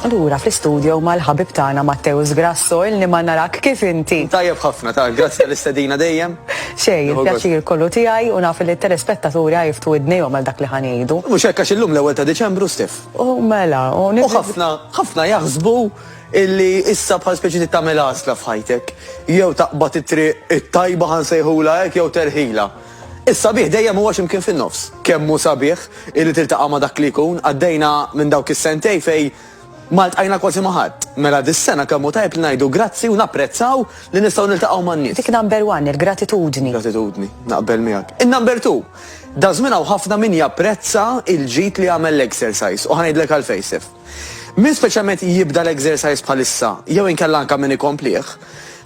Lura fl-istudio mal-ħabib tagħna Matteus Grasso illi ma narak kif inti. Tajjeb ħafna ta' grazzi tal-istedina dejjem. Xej, il-pjaċir kollu tiegħi u naf li t-telespettaturi għajftu id-nejhom għal dak li ħanejdu. Mhux hekk għax illum l-ewwel ta' Diċembru stif. U mela, u ħafna ħafna jaħsbu illi issa bħal speċi tagħmel għażla f'ħajtek. Jew taqbad it-triq it-tajba ħansejħula hekk jew terħila. Is-sabiħ dejjem huwa xi mkien fin-nofs. Kemm hu sabiħ illi tiltaqa' ma' dak li jkun, għaddejna minn dawk is-sentejn fejn ma ltqajna kważi ma' ħadd. Mela dis-sena kemm hu tajjeb li ngħidu grazzi u napprezzaw li nistgħu niltaqgħu man-nies. Dik number one, il-gratitudni. Gratitudni, naqbel miegħek. In-number two, daż-żmien hawn ħafna min japprezza l-ġid li għamel l-exercise u ħa ngħidlek għalfejn, Sif. Min speċjalment jibda l-exercise bħalissa, jew inkella anke min ikomplih,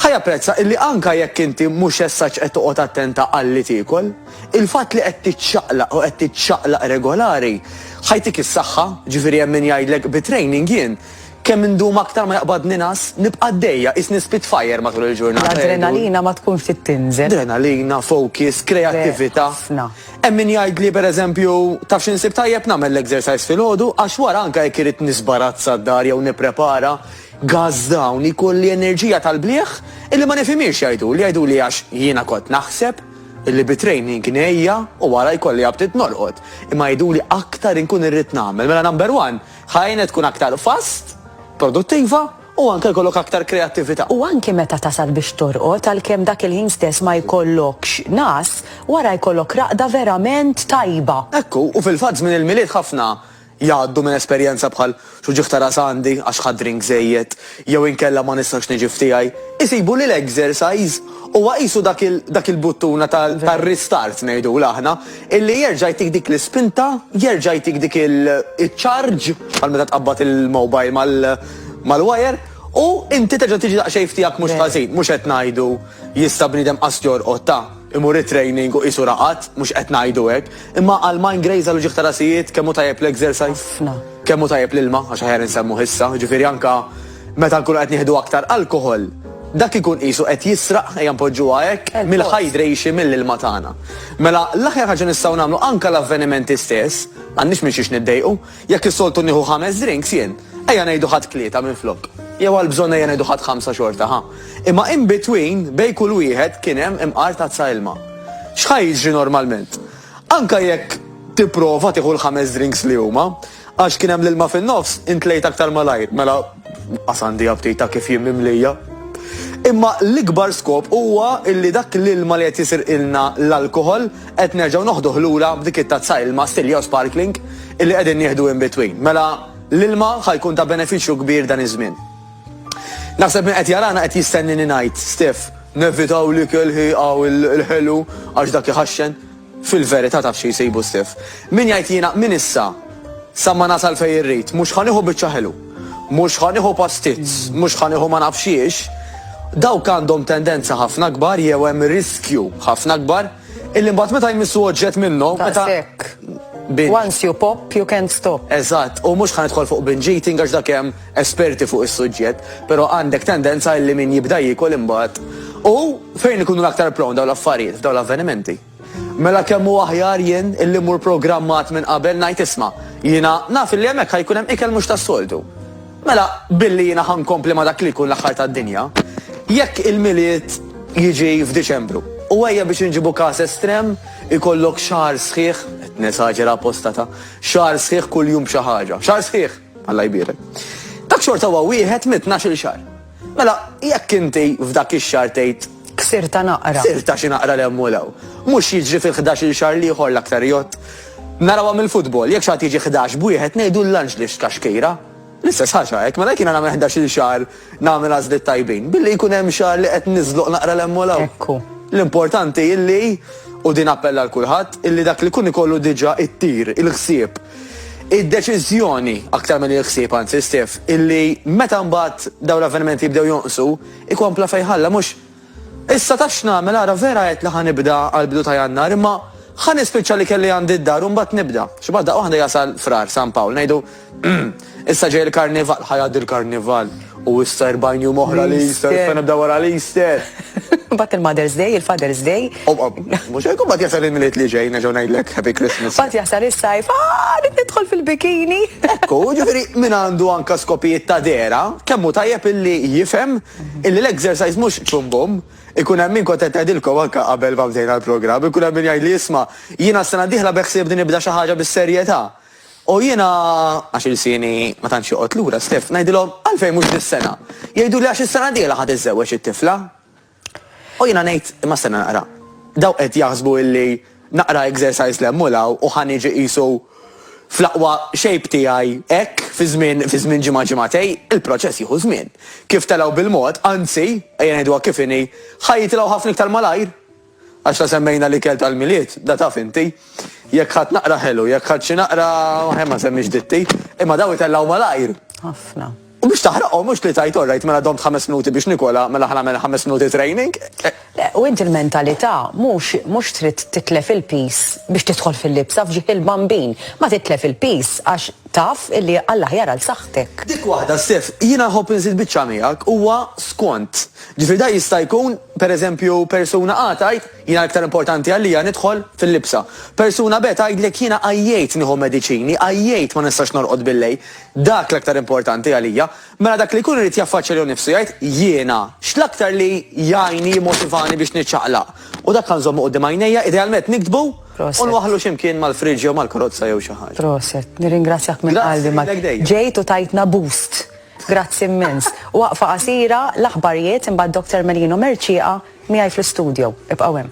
ħa japprezza illi anke jekk inti mhux as such qed toqgħod attenta għal li tiekol, il-fatt li qed tiċċaqlaq u qed tiċċaqlaq regolari ħa jtik is-saħħa, ġifieri hemm min jgħidlek bi training jien kemm indum aktar ma jaqbadni ngħas, nibqa' għaddejja qisni spitfire matul il-ġurnata. L-adrenalina ma tkun ftit tinżel. Adrenalina, focus, kreattività. Ħafna. Hemm min jgħid li pereżempju, tafx insib tajjeb nagħmel l-exercise filgħodu għax wara anke jekk irid nisbarazza d-dar jew nipprepara gazz dawn jkolli enerġija tal-blieh illi ma nifhimhiex jgħiduli, jgħiduli għax jiena kont naħseb illi bi training ngħejja u wara jkolli aptit norqod. Imma jgħiduli aktar inkun irrid nagħmel, mela number one, ħajjina tkun aktar fast, produttiva, u anke jkollok aktar kreattività. U anke meta tasal biex torqod, għalkemm dak il-ħin stess ma jkollokx ngħas, wara jkollok raqda verament tajba. Hekk hu, u fil-fatt żmien il-Milied ħafna jgħaddu minn esperjenza bħal, xi wġigħ ta' ras għandi għax ħadt drink żejjed, jew inkella ma nistax niġi f'tiegħi. Isibu li l-exercise huwa qisu dak il-buttuna tar-restart ngħidulha aħna, illi jerġa' jtik dik l-ispinta, jerġa' jtik dik il-charge, bħal meta tqabbad il-mobile mal, mal-wajer u inti terġa' tiġi daqsxejn f'tiegħek mhux ħażin. Mhux qed ngħidu jista' bniedem qas jorqod ta', imur it-training u qisu raqad, mhux qed ngħidu hekk. Imma għal mind graze għal uġigħ ta' rasijiet kemm hu tajjeb l-exercise, kemm hu tajjeb l-ilma, għax aħjar insemmuh issa, jiġifieri anke meta nkunu qed nieħdu aktar alkoħol, dak ikun qisu qed jisraq, ejja npoġġuha hekk, mill-hydration mill-ilma tagħna. Mela l-aħjar ħaġa nistgħu nagħmlu anke l-avvenimenti stess, m'għandniex minn xiex niddejqu, Jekk is-soltu nieħu ħames drinks jien, ejja ngħidu ħadt tlieta minflok. Jew għal bżonn ejja ngħidu ħadt ħamsa xorta, ħa. Imma in between, bejn kull wieħed kien hemm imqar tazza ilma. X'ħa jiġri normalment? Anke jekk tipprova tieħu l-ħames drinks li huma, għax kien hemm l-ilma fin-nofs, intlejt aktar malajr. Mela, qas għandi aptita kif jien mimlija. Imma l-ikbar skop huwa illi dak l-ilma li qed jisirqilna l-alkoħol, Qed nerġgħu noħduh lura b'dik it-tazza ilma stil jew sparkling illi qegħdin nieħdu in between. Mela l-ilma ħa jkun ta' benefiċċju kbir dan iż-żmien. Naħseb min qed jarana qed jistennini ngħid, Stef, nevitaw l-ikel ħieqa u l-ħelu għax dak iħaxxen. Fil-verità taf xi jsibu Stef. Min jgħid jiena minn issa sa ma nasal fejn irrid, mhux ħa nieħu biċċa ħelu. Mhux ħa nieħu pastizz, mhux ħa nieħu ma nafx xiex, dawk għandhom tendenza ħafna akbar jew hemm riskju ħafna akbar illi mbagħad meta jmissu oġġett minnhom meta Once you pop, you can't stop. Eżatt, u mhux ħanidħol fuq binge eating għax dak hemm esperti fuq is-suġġett, però għandek tendenza illi min jibda jiekol imbagħad. U fejn ikunu l-aktar prawn dawn l-affarijiet, dawn l-avvenimenti? Mela kemm hu aħjar jien illi mmur programmat minn qabel ngħid isma', jiena naf illi hemmhekk ħa jkun hemm ikel mhux tas-soltu. Mela billi jiena ħa nkompli ma' dak li jkun l-aħħar tad-dinja, jekk il-Milied jiġi f'Diċembru. U ejja biex inġibu każ estrem, ikollok xahar sħiħ, qed nesaġera apposta ta', xahar sħiħ kuljum b'xi ħaġa. Xahar sħiħ! Alla jbierek. Dak xorta huwa wieħed mit-tnax-il xahar. Mela, jekk inti f'dak ix-xahar tgħid, Ksirtha naqra. Ksirtha xi naqra 'l hemm u 'l hawn. Mhux jiġri fil-ħdax-il xahar l-ieħor l-aktar jott. Narawha mill-futbol, jekk xi ħadd jiġi ħdax b'wieħed ngħidu l-lanġ li xtla xkejra. L-istess ħaġa hekk, mela jekk jiena nagħmel ħdax-il xahar nagħmel għażliet tajbin, billi jkun hemm xahar li qed niżloq naqra 'l hemm u 'l hawn. Ekku. L-importanti illi, u din appell għal kulħadd, illi dak li jkun ikollu diġà t-tir, il-ħsieb, Id-deċiżjoni, aktar milli l-ħsieb anzi, Steve, illi meta mbagħad dawn l-avvenimenti jibdew jonqsu, ikompla fejn ħalla, mhux, Issa taf x'nagħmel, ara vera għedt li ħa nibda għall-bidu ta' Jannar, imma ħa nispiċċa li kelli għandi d-dar u mbagħad nibda. Xi bgħad daqqa waħda jasal Frar, San Pawl, ngħidu, Umm, Issa ġej il-Karnival, ħa jgħaddi l-Karnival u issa 40 jum oħra l-Easter, issa nibda wara l-Easter. Bat il-Mother's Day, il-Father's Day. Mux hekk bat jasal il-miliet li ġej, neġgħu ngħidlek Happy Christmas. Bat jasal is-sajf, ah, nidħol fil-bikini. Ekku, ġifieri min għandu anka skopijiet ta' dera, kemmu tajjeb illi jifhem illi l-exercise mhux ċumbum, ikun hemm min kont qed ngħidilkom anke qabel ma bdejna l-programm, ikun hemm min jgħid li jisma' jiena s-sena diħla beħsieb din nibda xi ħaġa bis-serjetà. U jiena, għax ilsieni ma tantx joqgħod lura, Steff, ngħidilhom, Għalfejn mhux dis-sena? Jgħiduli, Għax is-sena d-dieħla ħa tiżżewweġ it-tifla. U jiena ngħid, Imma stenna naqra, dawk qed jaħsbu illi naqra exercise l-hemm u l-hawn u ħa niġi qisu fl-aqwa shape tiegħi hekk fi żmien fi żmien ġimgħa ġimgħatej, il-proċess jieħu żmien. Kif telgħu bil-mod, anzi, ejja ngħiduha kif inhi, ħa jitilgħu ħafna iktar malajr. Għax la semmejna l-ikel tal-Milied, da taf inti. Jekk ħadt naqra ħelu, jekk ħadt xi naqra, ħen ma nsemmix ditti. Imma daw itellgħu malajr. Ħafna. U biex taħraqhom mhux li tgħid orrajt mela domt ħames minuti biex nikola, mela ħa nagħmel ħames minuti training. Le, u inti l-mentalità mhux mhux trid titlef il-piż biex tidħol fil-libsa f'ġieħ il-bambin. Ma titlef il-piż għax taf illi għall-aħjar għal saħħtek. Dik waħda, Steph, jiena nħobb inżid biċċa miegħek, huwa skont. Ġifieri da jista' jkun. Per eżempju, persuna A tgħid, Jiena l-iktar importanti għalija nidħol fil-libsa. Persuna B tgħidlek, Jiena għajjejt nieħu mediċini, għajjejt ma nistax norqod billejl. Dak l-aktar importanti għalija. Mela dak li jkun irid jaffaċċja lilu nnifsu jgħid, Jiena, x'l-aktar li jgħinni, jimmotivani biex niċċaqlaq? U dak għan nżommu quddiem għajnejja, idealment niktbu u nwaħħlu xi mkien mal-friġġ jew mal-karozza jew xi ħaġa. Proset, nirringrazzjak minn qalbi. Ġejt u tajtna boost. Grazzi immens. Waqfa qasira, l-aħbarijiet, imbagħad Doctor Melino Mercieqa miegħi fl-istudio. Ibqgħu hemm.